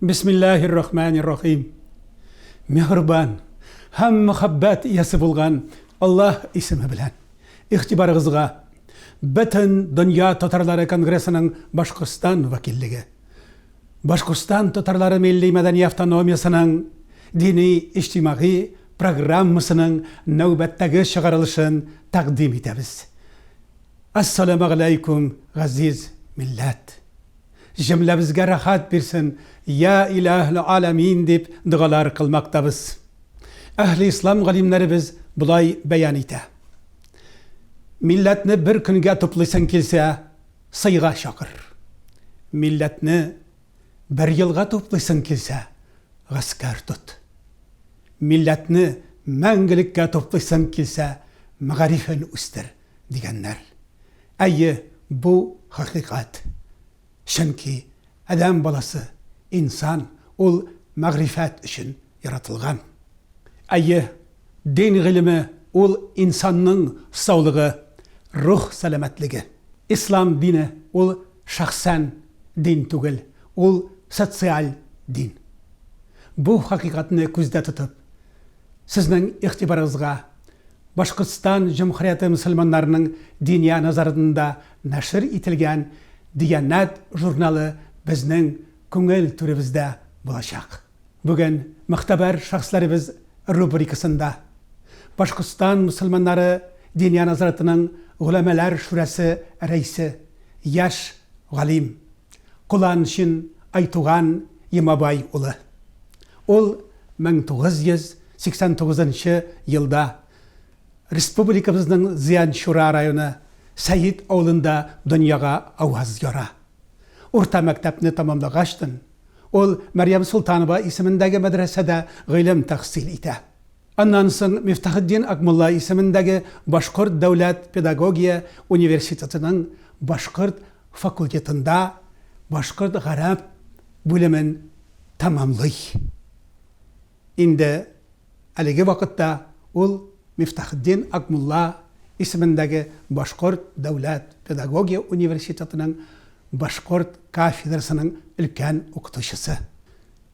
Бисмиллаһир рахманир рахим. Миһрбан һәм мәхәббәт иясе булган Аллаһ исеме белән. Игътибарыгызга Бөтен дөнья татарлары конгрессының Башкортстан вәкиллеге, Башкортстан татарлары милли-мәдәни автономиясенең дини-иҗтимагый программасының нәүбәттәге чыгарылышын тәкъдим итәбез. Ассаләмәгъләйкүм газиз милләт! Җөмләбезгә рәхәт бирсен, Йа Илаһ Аләмин дип догалар кылмактабыз. Әһле Ислам галимнәребез болай бәян итә, Милләтне бер көнгә туплыйсың килсә, сыйга чакыр. Милләтне бер елга туплыйсың килсә, гаскәр тот. Милләтне мәңгелеккә туплыйсың килсә, мәгарифен үстер. дигәннәр. Әйе, бу хакыйкать. Чөнки адәм баласы, инсан, ул мәгърифәт өчен яратылган. Әйе, дин гыйлеме, ул инсанның саулыгы, рух сәламәтлеге. Ислам дине, ул шәхсән дин түгел, ул социаль дин. Бу хакыйкатьне күздә тотып. Сезнең игътибарыгызга, Башкортстан җөмһүрияте мөселманнарының Диния назарында нәшер ителгән Диянәт журналы безнең күңел түребездә булачак. Бүген Могтәбәр шәхесләребез рубрикасында Башкортстан мөселманнары Диния назаратының Голәмәләр шүрәсе рәисе, яшь галим, Куланшин Айтуган Емабай улы. Ул 1989 нчы елда республикабызның Зыянчура районы Сәет авылында дөньяга аваз яра. Урта мәктәпне тәмамлагачтын, ул Мәрьям Солтанова исемендәге мәдрәсәдә гыйлем тәхсил итә. Аннан соң Мифтахетдин Акмулла исемендәге Башкорт дәүләт педагогия университетының башкорт факультетында башкорт-гарәп бүлемен тәмамлый. Инде әлеге вакытта ул Мифтахетдин Акмулла исемендәге Башкорт дәүләт педагогия университетының башкорт кафедрасының өлкән укытучысы.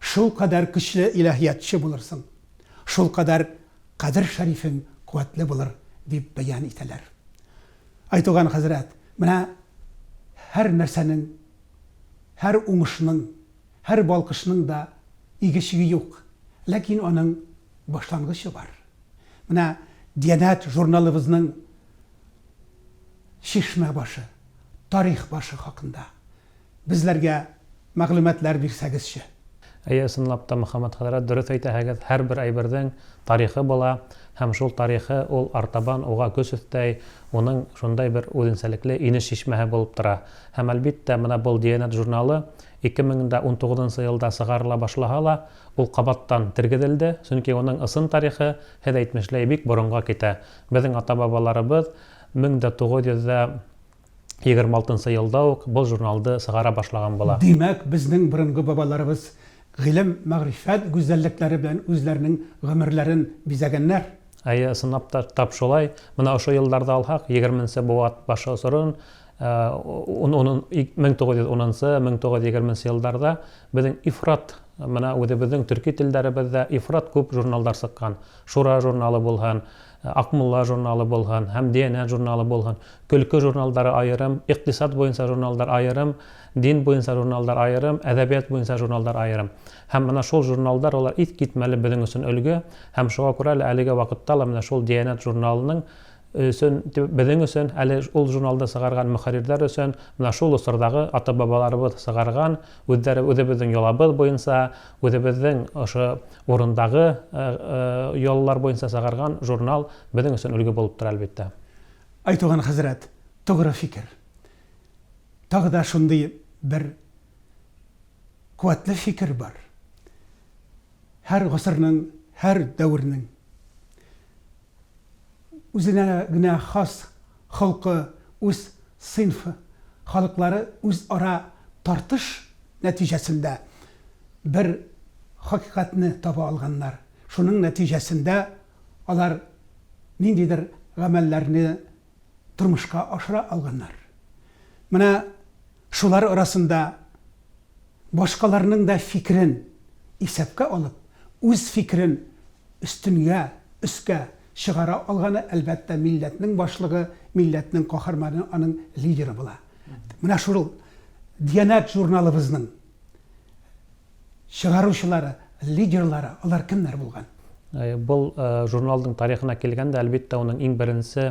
Шулкадәр көчле илаһиятче булырсың, шулкадәр Кадер Шәрифең куәтле булыр, дип бәян итәләр. Айтуган хәзрәт, менә һәр нәрсәнең, һәр уңышның, һәр балкышның да иге-чиге юк, ләкин аның башлангычы бар. Менә Диянәт журналыбызның Чишмә башы, тарих башы хакында. безләргә мәгълүматлар бирсәгезче. Әйе, ысынлап та, Мөхәммәд хәзрәт, дөрес әйтәһегез, һәрбер әйбердең тарихы була, һәм шул тарихы ул артабан уга көч өстәй, уның шундай бер үзенчәлекле инеш чишмәһе булып тора. Һәм, әлбиттә, менә бул Диянәт журналы, 2019 нчы елда чыгарыла башлаһа ла, ул кабаттан тергезелде, чөнки уның ысын тарихы, һез әйтмешләй, бик борынга китә. Безнең ата-бабаларыбыз 1900 дә. 26 нчы елда ук бу журналды сыгара башлаган була. Димәк, безнең борынгы бабаларыбыз гыйлем, мәгърифәт гүзәллекләре белән үзләренең гомерләрен бизәгәннәр. Әйе, ысынлап та, тап шулай. Менә ошо елларда алһак, егерме нче бу ат башы осырын, ун, ун, мең тугыз йөз унынчы, мең тугыз йөз егерме нче елларда безнең ифрат, менә үзебезнең төрки телләребездә ифрат күп журналлар сыккан. Шура журналы булһын, Акмулла журналы булган һәм Диянәт журналы булган. Көлке журналдары аерым, икътисад буенча журналдар аерым, дин буенча журналдар аерым, әдәбият буенча журналдар аерым. Һәм менә шул журналдар алар искитмәле безнең өчен өлге, һәм шуңа күрә әле әлеге вакытта ла менә шул Диянәт журналының өчен, безнең өчен, әле ул журналны чыгарган мөхәррирләр өчен менә шул госырдагы ата-бабаларыбыз чыгарган, үзләре, үзебезнең йолабыз буенча, Үзебезнең ошо урындагы яллар буенча чыгарган журнал безнең өчен өлге булып тора, әлбиттә. Айтуган хәзрәт, тугры фикер. Тагы да шундый бер куәтле фикер бар. Һәр гасырның, һәр дәвернең Үзенә генә хас холкы, үз сыйнф халыклары үзара тартыш нәтиҗәсендә бер хакыйкатьне таба алганнар. Шуның нәтиҗәсендә алар ниндидер гамәлләрне тормышка ашыра алганнар. Менә шулар арасында Башкаларның да фикерен исәпкә алып, үз фикерен өстенгә, өскә, чыгара алганы, әлбәттә, милләтнең башлыгы, милләтнең каһарманы, аның лидеры була. Менә шул Диянәт журналыбызның чыгаручылары, лидерлары, алар кемнәр булган? Бу журналның тарихына килгәндә, әлбиттә, аның иң беренче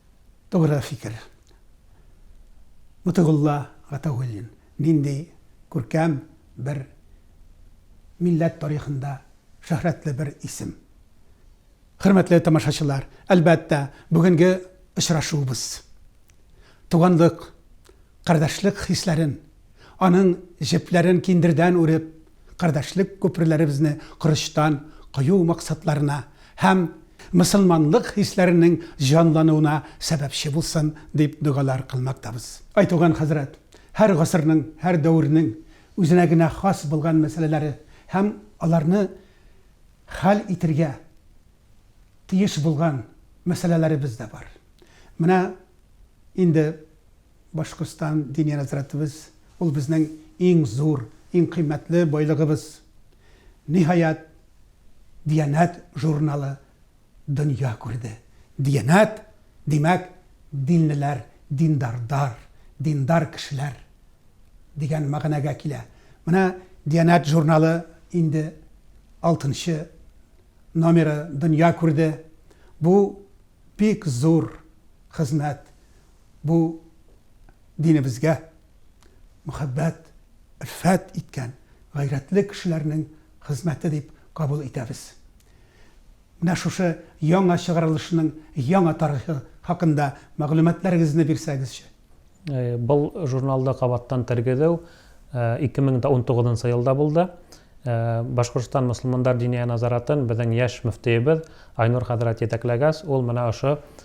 Тугры фикер. Мотыйгулла Гатаугуллин нинди күркәм бер милләт тарихында шөһрәтле бер исем. Хөрмәтле тамашачылар, әлбәттә, бүгенге очрашуыбыз туганлык, кардәшлек хисләрен, аның җепләрен киндердән үреп, кардәшлек күперләребезне корычтан кою максатларына һәм мөселманлык хисләренең җанлануына сәбәпче булсын, дип догалар кылмактабыз. Ай туган хәзрәт, һәр гасырның, һәр дәвернең үзенә генә хас булган мәсьәләләре һәм аларны хәл итергә тиеш булган мәсьәләләребез дә бар. Менә инде Башкортстан Диния нәзарәтебез, ул безнең иң зур, иң кыйммәтле байлыгыбыз. Ниһаять, Диянәт журналы дөнья күрде. Диянәт, димәк, динлеләр, диндардар, диндар кешеләр дигән мәгънәгә килә. Менә Диянәт журналы инде алтынчы номеры дөнья күрде. Бу бик зур хезмәт, Бу динебезгә мөхәббәт, өлфәт иткән гайрәтле кешеләрнең хезмәте дип кабул итәбез. Менә шушы яңа чыгарылышның яңа тарихы хакында мәгълүматларыгызны бирсәгезче. Бул журналда кабаттан тергезеу 2019 нчы елда булды. Башкортстан мөселмандар диния назаратын безнең яшь мөфтиебез Айнур хәзрәт җитәкләгәс, ул менә ошо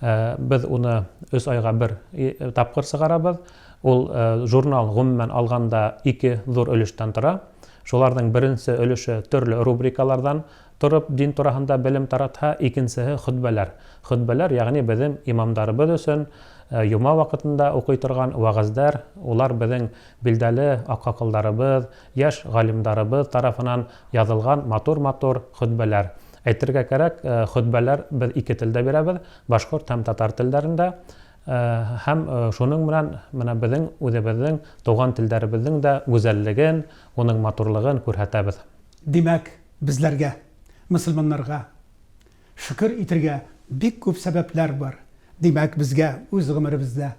Без уны өч айга бер тапкыр чыгарабыз. Ул журнал, гомумән алганда, ике зур өлештән тора. Шуларның беренче өлеше төрле рубрикалардан торып дин турагында белем таратһа, икенчеһе хөтбәләр. Хөтбәләр, ягъни безнең имамдарыбыз өчен йома вакытында укый торган вәгазьләр, улар безнең билдәле акакылдарыбыз, яшь галимдарыбыз тарафынан язылган матур-матур хөтбәләр. Әйтергә кәрәк, хөтбәләр без ике телдә бирәбез, башкорт һәм татар телләрендә. Һәм шуның белән менә безнең үзебезнең туган телләребезнең дә гүзәллеген, уның матурлыгын күрһәтәбез. Димәк, безләргә, мөселманнарга, шөкер итергә бик күп сәбәпләр бар. Димәк, безгә үз гомеребездә,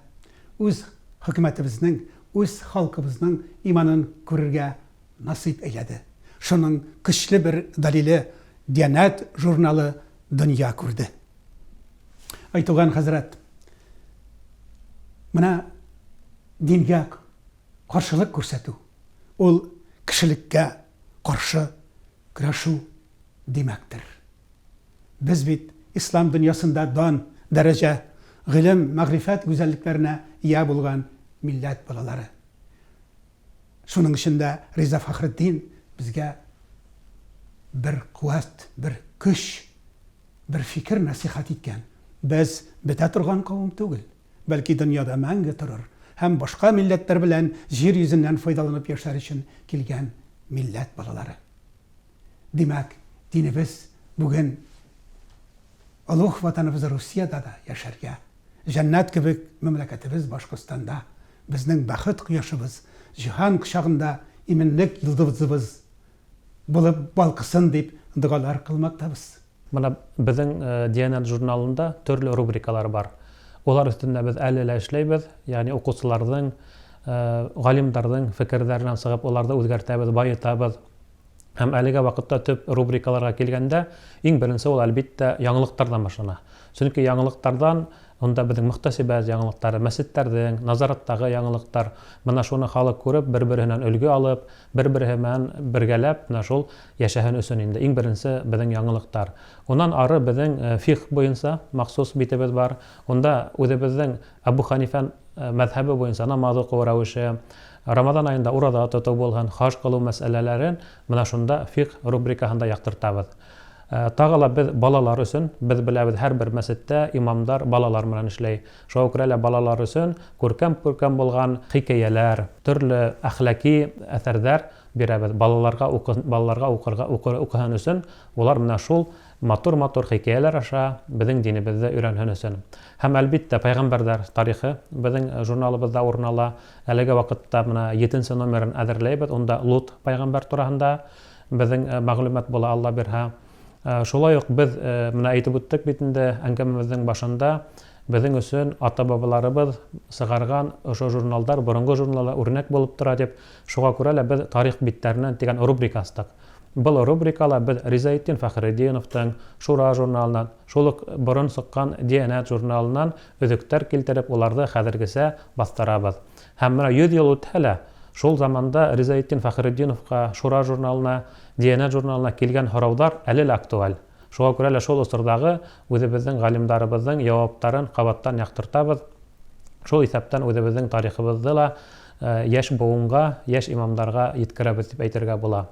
үз хөкүмәтебезнең, үз халкыбызның иманын күрергә, Насыйп әйләде. Шуның көчле бер дәлиле Дианәт журналы дөнья күрде. Ай туган хәзрәт, менә дингә каршылык күрсәтү, ул кешелеккә каршы көрәшү димәктер. Без бит ислам дөньясында дан, дәрәҗә, гыйлем, мәгърифәт гүзәллекләренә ия булган милләт балалары. Шуның өчен дә Риза Фәхретдин безгә бер куәт, бер көч, бер фикер нәсыйхәт иткән, Без бетә торган кавым түгел, бәлки дөньяда мәңге торыр һәм башка милләтләр белән җир йөзеннән файдаланып яшәр өчен килгән милләт балалары. Димәк, динебез бүген олуг Ватаныбыз Русиядә дә яшәргә, җәннәт кебек мәмләкәтебез Башкортстанда Безнең бәхет кояшыбыз, җиһан кочагында иминлек йолдызыбыз булып балкысын дип догалар кылмактабыз. Менә безнең Дианет журналында төрле рубрикалар бар. Алар өстендә без әле лә эшләйбез, ягъни укучыларның, галимнәрнең фикерләреннән чыгып, аларны үзгәртәбез, баетабыз. Һәм әлегә вакытта төп рубрикаларга килгәндә, иң беренче ул, әлбиттә, яңалыктардан башлана. Чөнки яңалыктардан, монда безнең мөхтәсибәт яңалыклары, мәчетләрнең, назараттагы яңалыктар, менә шуны халык күреп, бер-береннән өлге алып, бер-бере белән бергәләп менә шул яшәһен өчен инде иң беренче безнең яңалыктар. Уннан ары безнең фикһ буенча махсус битебез бар. Унда үзебезнең Әбү Хәнифә мәзһәбе буенча намаз уку рәвеше, Рамазан аенда ураза тоту булган, хаҗ кылу мәсьәләләрен менә шунда фикъ рубрикаһында яктыртабыз. Тагы ла без балалар өчен, без беләбез, һәрбер мәчеттә имамдар балалар белән эшләй. Шуңа күрә лә балалар өчен күркәм-күркәм булган хикәяләр, төрле әхлаки әсәрдәр бирәбез. Балаларга укысын, балаларга укырга, укыр, укысын өчен болар менә шул матур-матур хикәяләр аша безнең динебезне өйрәнсен өчен. Һәм, әлбиттә, Пәйгамбәрдәр тарихы безнең журналыбызда урын ала. Әлеге вакытта менә етенче номерын әзерләйбез, унда Лут пәйгамбәр турагында безнең мәгълүмат була, Алла бирһа. Шулай ук без, менә әйтеп үттек бит инде әңгәмәбезнең башында, безнең өчен ата-бабаларыбыз чыгарган ошо журналдар, борынгы журналлар үрнәк булып тора дип, шуңа күрә лә без Тарих битләреннән дигән рубрика ачтык. Был рубрикала без Ризаэддин Фәхретдиновтың Шура журналыннан, Шул ук борын суккан Диянәт журналыннан өзектәр килтереп, уларны хәзергечә бастырабыз. Һәм менә йөз ел үтһә лә, шул заманда Ризаэддин Фәхретдиновка, Шура журналына, Диянәт журналына килгән һораулар әле лә актуаль. Шуңа күрә лә шул осырдагы үзебезнең галимдарыбызның яваптарын кабаттан яктыртабыз, шул исәптән үзебезнең тарихыбызны да яшь буынга, яшь имамнарга йиткерәбез дип әйтергә була.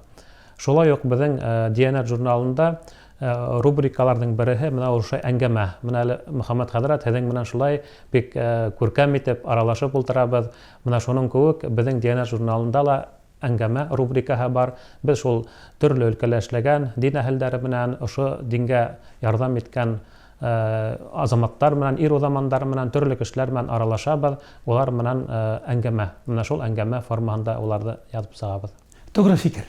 Шулай ук безнең Диянәт журналында Рубрикаларның береһе менә ул шул әңгәмә. Менә әле, Мөхәммәт хәзрәт, һезең белән шулай бик күркәм итеп аралашып ултырабыз. Менә шуның куык безнең Диянәт журналында ла әңгәмә рубрикаһы бар. Без шул төрле өлкәлә эшләгән, дин әһелләре белән, ошо дингә ярдәм иткән азаматтар белән, ир-узамандар белән, төрле кешеләр белән аралашабыз. Улар белән әңгәмә. Менә шул әңгәмә формаһында уларны язып чыгабыз. Тугры фикер.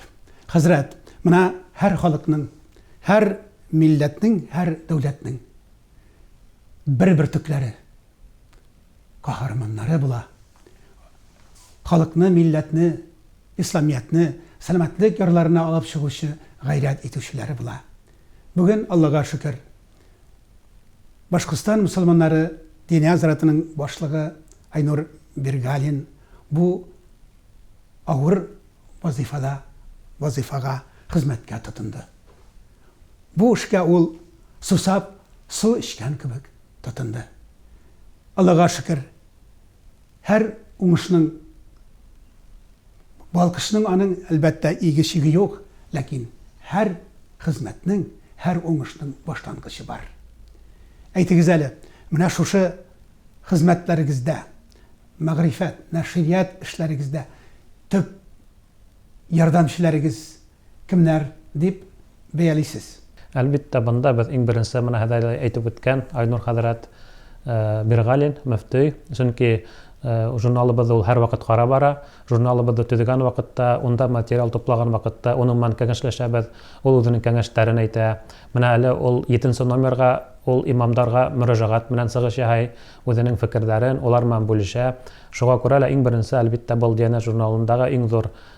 Хәзрәт, менә һәр халыкның, һәр милләтнең, һәр дәүләтнең бер бөртекләре, каһарманнары була. Халыкны, милләтне, Исламиятне сәламәтлек ярларына алып чыгучы, гайрәт итүчеләре була. Бүген, Аллага шөкер, Башкортстан мөселманнары Диния азратының башлыгы Айнур Бергалин бу авыр вазыйфада, вазыйфага, хезмәткә тотынды. Бу эшкә ул сусап су эчкән кебек тотынды. Аллага шөкер! Һәр уңышның, балкышның аның, әлбәттә, иге-чиге юк, ләкин һәр хезмәтнең, һәр уңышның башлангычы бар. Әйтегез әле, менә шушы хезмәтләрегездә, мәгърифәт, нәшрият эшләрегездә төп ярдәмчеләрегез, кемнәр дип бәялисез? Әлбиттә, бында без иң беренче менә Һәдәләй әйтеп үткән Айнур хәзрәт Биргалин, мөфтөй. Чөнки журналыбызды ул һәрвакыт карап бара. Журналыбызды төзегән вакытта, унда материал туплаган вакытта уның белән кәңәшләшәбез. Ул үзенең кәңәшләрен әйтә. Менә әле ул җиденче номерга ул имамдарга мөрәҗәгать белән чыгыш яһый, үзенең фикерләрен, алар белән бүлешә. Шуңа күрә лә иң беренче, әлбиттә, был Диянәт журналындагы иң зур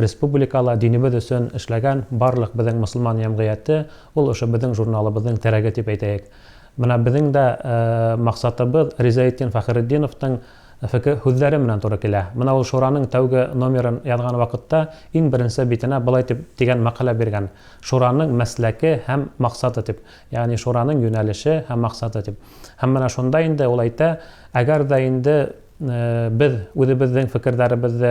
Республикала динебез өчен эшләгән барлык безнең мөселман җәмгыяте ул ошо безнең журналыбызның терәге дип әйтәек. Менә безнең дә максатыбыз Ризаэддин Фәхеретдиновның феке һүзләре менән туры килә. Менә ул Шураның тәүге номерын язган вакытта иң беренче битенә болай дип дигән мәкалә биргән, Шураның мәсләке һәм максаты дип, ягъни Шураның юнәлеше һәм максаты дип. Һәм менә шунда инде ул әйтә, әгәр дә инде без үзебезнең фекерләребезне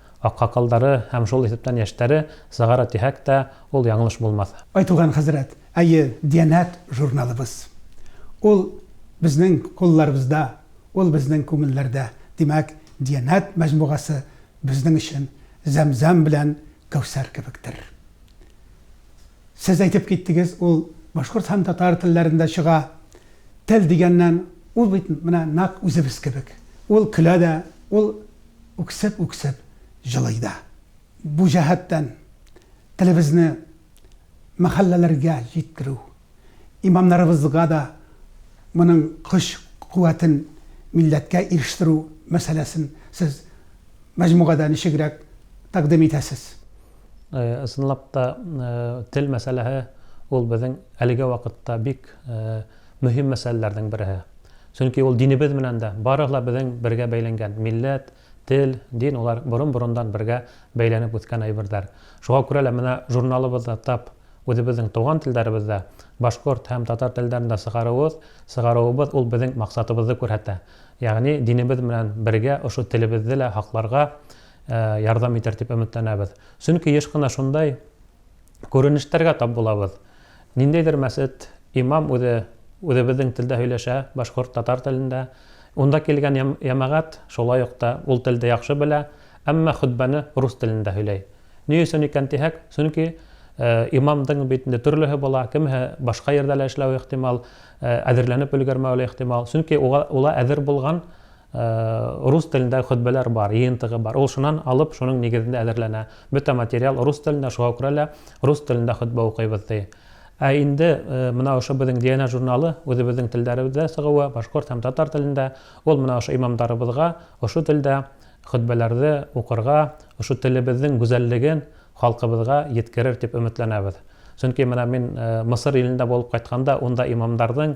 Аккакалдары һәм шул исәптән яшьтәре сыгара дисәк тә, ул яңылыш булмас. Айтуган хәзрәт, әйе, Диянәт журналыбыз. Ул, безнең кулларыбызда, ул, безнең күңелләрдә. Димәк, Диянәт мәҗмугасы безнең өчен Зәмзәм белән Кәүсәр кебектер. Сез әйтеп киттегез, ул башкорт һәм татар телләрендә чыга. Тел дигәннән, ул бит менә нәкъ үзебез кебек. Ул көлә дә, ул үксеп-үксеп җылый да. Бу җәһәттән телебезне мәхәлләләргә җиткерү, имамнарыбызга да моның көч-куәтен милләткә ирештерү мәсьәләсен сез мәҗмугада ничегрәк тәкъдим итәсез? Ысынлап та, тел мәсьәләһе ул безнең әлеге вакытта бик Мөһим мәсьәләләрнең береһе. Чөнки ул динебез менән дә, барыгы ла безнең бергә бәйләнгән, милләт, тел, дин, алар борын-борындан бергә бәйләнеп үскән әйберләр. Шуңа күрә лә менә журналыбызны тап үзебезнең туган телләребездә, башкорт һәм татар телләрендә чыгаруыбыз, чыгаруыбыз ул безнең максатыбызны күрһәтә, ягъни динебез менән бергә ошо телебезне лә һакларга ярдәм итәр дип өметләнәбез. Чөнки еш кына шундай күренештәргә тап булабыз. Ниндәйдер мәсет, имам үзе үзебезнең телдә һөйләшә, башкорт, татар телендә. Унда килгән ямәгать шулай ук та ул телдә яхшы белә, әмма хөтбәне рус телендә һөйләй. Ни өчен икән дисәк, чөнки имамдың бит инде төрлеһе була, кемеһе башка йирдә лә эшләве ихтимал, әзерләнеп өлгермәве лә ихтимал, чөнки уга әзер булган, Рус телендәге хөтбәләр бар, йыентыгы бар. Ул шуннан алып, шуның нигезендә әзерләнә. Бөтә материал рус телендә, шуңа күрә лә рус телендә хөтбә укыйбыз, ди. Ә инде менә ошо безнең Диана журналы, үзебезнең телләребездә чыгуы, башкорт һәм татар телендә, ул менә ошо имамдарыбызга ошо телдә хөтбәләрне укырга, ошо телебезнең гүзәллеген халкыбызга йиткерер дип өметләнәбез. Чөнки менә мин Мысыр илендә булып кайтканда, унда имамдарның,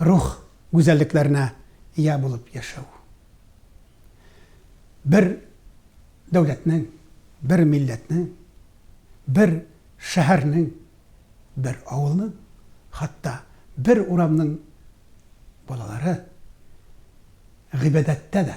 рух гүзәллекләренә ия булып яшәү. Бер дәүләтнең, бер милләтнең, бер шәһәрнең, бер авылның, хатта бер урамның балалары гыйбадәттә дә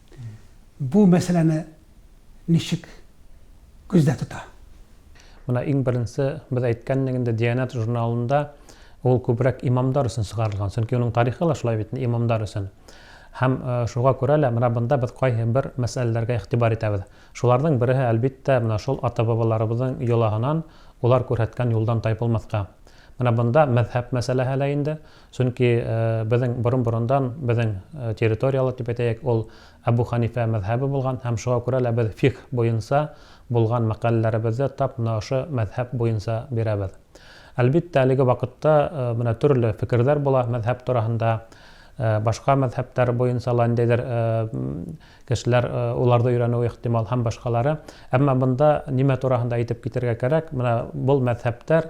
бу мәсьәләне ничек күздә тота? Менә иң беренче без әйткән идек инде, Диянәт журналында ул күбрәк имамдар өчен чыгарылган, чөнки аның тарихы да шулай бит, имамдар өчен. Һәм шуңа күрә лә менә монда без кайһы бер мәсьәләләргә игътибар итәбез. Шуларның береһе, әлбиттә, менә шул ата-бабаларыбызның йолаһынан, алар күрһәткән юлдан тайпылмаска. Менә монда мәзһәб мәсьәләһе лә инде. Чөнки безнең борын-борындан безнең территорияле дип әйтәек, ул Әбү Хәнифә мәзһәбе булган һәм шуңа күрә лә без фикһ буенча булган мәкаләләребезне тап менә ошо мәзһәб буенча бирәбез. Әлбиттә, әлеге вакытта менә төрле фикерләр була мәзһәб тураһында, башка мәзһәбләр буенча ла ниндидер кешеләр уларда өйрәнүе ихтимал һәм башкалары. Әмма монда нимә тураһында әйтеп китергә кирәк, менә бул мәзһәбләр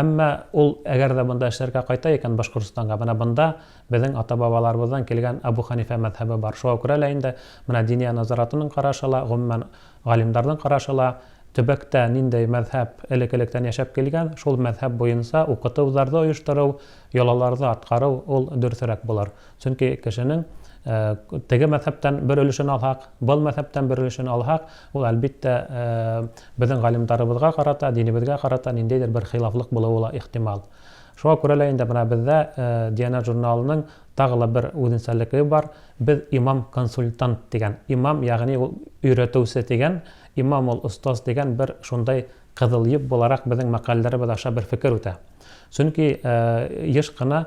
Әмма ул әгәр дә монда эшләргә кайта икән, Башкортстанга, менә бында безнең ата-бабаларыбыздан килгән Әбү Хәнифә мәзһәбе бар. Шуңа күрә лә инде менә Диния назаратының карашы ла, гомумән, галимнәрнең карашы ла, төбәктә нинди мәзһәб элек-электән яшәп килгән, шул мәзһәб буенча укыту-зарды оештыру, йолаларны аткару ул дөресрәк булыр. Чөнки кешенең теге мәзһәптән бер өлешен алһак, был мәзһәптән бер өлешен алһак, ул, әлбиттә, безнең галимдарыбызга карата, динебезгә карата ниндәйдер бер хилафлык булуы ла ихтимал. Шуңа күрә лә инде менә бездә Диана журналының тагы ла бер үзенчәлекле бар, без имам-консультант дигән, имам, ягъни ул өйрәтүче дигән, имам ул остаз дигән бер шундый кызыл йөк буларак безнең мәкаләләребез аша бер фикер үтә. Чөнки еш кына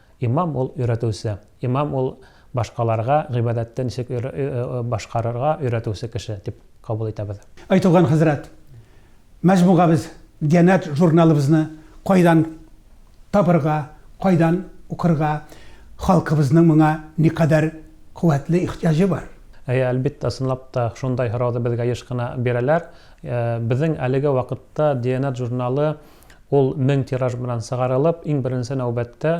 Имам ул, өйрәтүче. Имам ул, башкаларга гыйбадәтте ничек башкарырга өйрәтүче кеше, дип кабул итәбез. Әй туган хәзрәт, мәҗмугабез Дианәт журналыбызны кайдан табырга, кайдан укырга, халкыбызның моңа никадәр куәтле ихтыяҗы бар? Әйе, әлбиттә, чынлап та шундай һорауны безгә еш кына бирәләр. Безнең әлеге вакытта Дианәт журналы Ул мең тираж белән сыгарылып, иң беренче нәүбәттә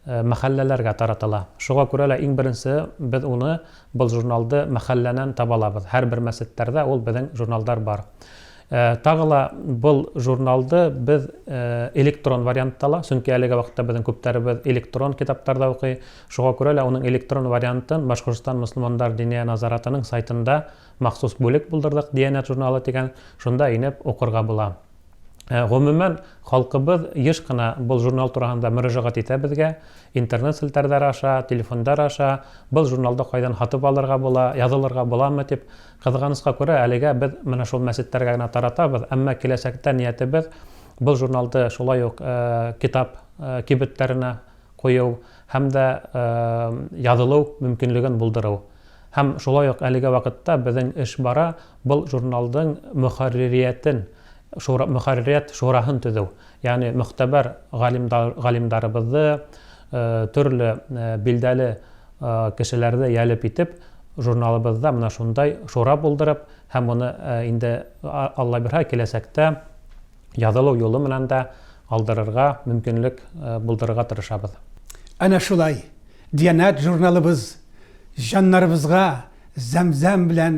мәхәлләләргә таратыла. Шуга күрә лә иң беренче без уны, был журналды мәхәлләнән таба алабыз. Һәрбер мәчеттәрдә ул безнең журналдар бар. Тагы ла был журналды без электрон вариантта ла, чөнки әлеге вакытта безнең күптәребез электрон китаптарда укый, шуга күрә лә уның электрон вариантын Башкортстан мөселмандар Диния назаратының сайтында махсус бүлек булдырдык, Диянәт журналы дигән, шунда инеп укырга була. Гомумән, халкыбыз еш кына был журнал тураһында мөрәжәгать итә безгә. Интернет селтәрләре аша, телефондар аша, Был журналды кайдан һатып алырга була, язылырга буламы? дип. Кызганычка күрә, әлегә без менә шул мәчетләргә генә таратабыз, әмма киләчәктә ниятебез был журналды шулай ук китап кибетләренә кую һәм дә язылу мөмкинлеген булдыру. Һәм шулай ук әлеге вакытта безнең эш бара, Был журналдың мөхәрририятен, шура, мөхәрририят шураһын төзү, ягъни могтәбәр галимда, галимдарыбызды, э, төрле э, билдәле э, кешеләрне ялеп итеп, журналыбызда менә шундай шура булдырып һәм моны э, инде а- Алла бирһә киләчәктә язылу юлы белән дә алдырырга мөмкинлек э, булдырырга тырышабыз. Әнә шулай, Диянәт журналыбыз җаннарыбызга зәм-зәм белән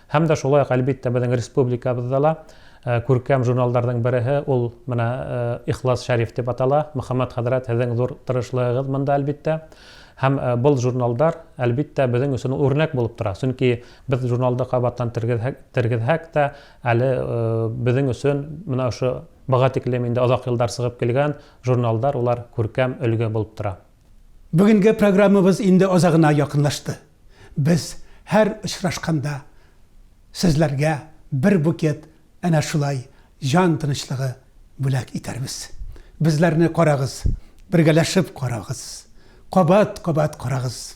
Һәм дә шулай ук, әлбиттә, безнең республикабызда ла күркәм журналларның береһе, ул менә Ихлас Шәриф дип атала. Мөхәммәт хәзрәт, һезең зур тырышлыгыгыз монда, әлбиттә. Һәм бул журналдар, әлбиттә, безнең өчен ул үрнәк булып тора. Чөнки без журналда кабаттан тергезһәк, тергезһәк тә, әле безнең өчен менә ошо быга тиклем инде озак еллар чыгып килгән журналдар, улар күркәм өлге булып тора. Бүгенге программабыз инде азагына якынлашты. Без һәр очрашканда сезләргә бер букет әнә шулай җан тынычлыгы бүләк итәрбез. Безләрне карагыз, бергәләшеп карагыз, кабат-кабат карагыз!